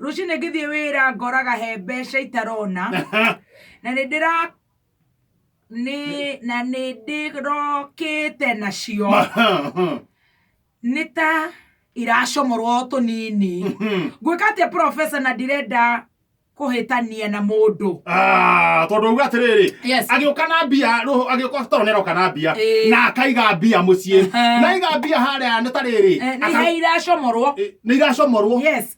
rũciũ nĩ ngĩthiĩ wĩra ngoraga he mbeca itarona na nĩ ndĩra nĩ na nĩ ndĩrokĩte nacio nĩ ta iracomorwo o tũnini ngwĩka atĩa profesa na ndirenda kũhĩtania na mũndũ Ah, tondå uga atä rä rä Yes. agä å ka na mbia agä å ka toro nä aroka na mbia Ĩĩ. na akaiga mbia må ciä Aha. naiga mbia harä a nä ta rä rä Eh, nĩ ha iracomorwo nä iracomorwo Yes.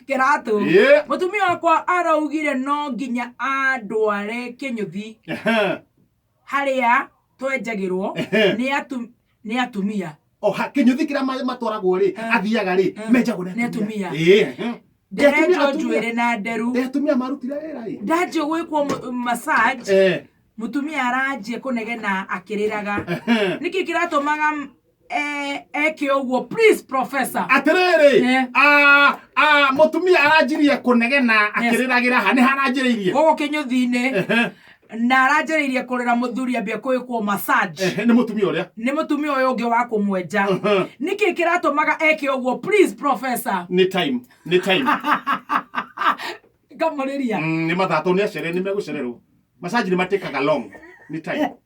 kĩratũ Ĩ. mũtumia wakwa araugire no nginya andware kĩnyũthi harĩa twenjagĩrwo nĩ atu- nĩ atumia oha kinyuthi kira ma- matwaragwo ri Eh. athiaga ri Eh. menjagwo Nĩ atumia. Ĩ. nderetwo atumia. njuĩrĩ na nderu Nĩ atumia marutire wĩra ĩ ndanjia gwĩkwo mu- massage Eh. mũtumia aranjia kũnegena akĩrĩraga nĩkĩ kĩratũmaga Eh, eke ũguo please professor atĩrĩrĩ Eh. ah, ah, mũtumia aranjirie kũnegena akĩrĩragĩra ha nĩ haranjĩrĩirie gũkũ kĩnyũthi-inĩ Ehe, na aranjĩrĩirie kũrĩra mũthuri ambia kwĩkwo massage ehe, nĩ mũtumia ũrĩa nĩ mũtumia ũyũ ũngĩ wa kũmwenja Mhm. nĩkĩ kĩratũmaga eke ũguo please professor nĩ time nĩ time ngamũrĩria Mm, nĩ mathatũ nĩ acere nĩ megũcererwo masaji nĩ matĩkaga long nĩ time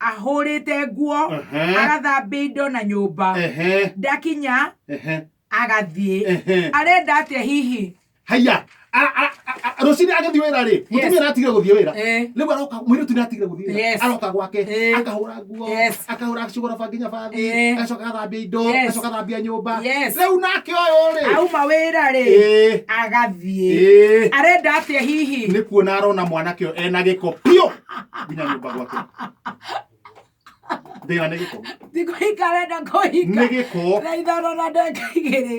ahũrĩte nguo Ehe. agathambia indo na nyũmba ehe ndakinya ehe agathiĩ Ehe. arenda atĩa hihi haya Ara- ara- ara- rũcinĩ agĩthiĩ wĩra rĩ mũtumia aratigire gũthiĩ wĩra Eh. rĩu aroka mũirĩtu nĩ atigire gũthiĩ wĩra Yes. aroka gwake Eh. akahũra nguo Yes. akahũra acigoroba nginya bathi Eh. agacoka agathambia indo Yes. agacoka agathambia nyũmba Yes. rĩu nake ũyũ rĩ auma wĩra rĩ Eh. agathiĩ Eh. arenda atĩa hihi nĩ kuona arona mwanake ũyũ ena gĩko biũ nginya nyũmba gwake thĩna nĩ gĩko thikũ ikarenda kũhika nĩ gĩko na ithano na ndeka igĩrĩ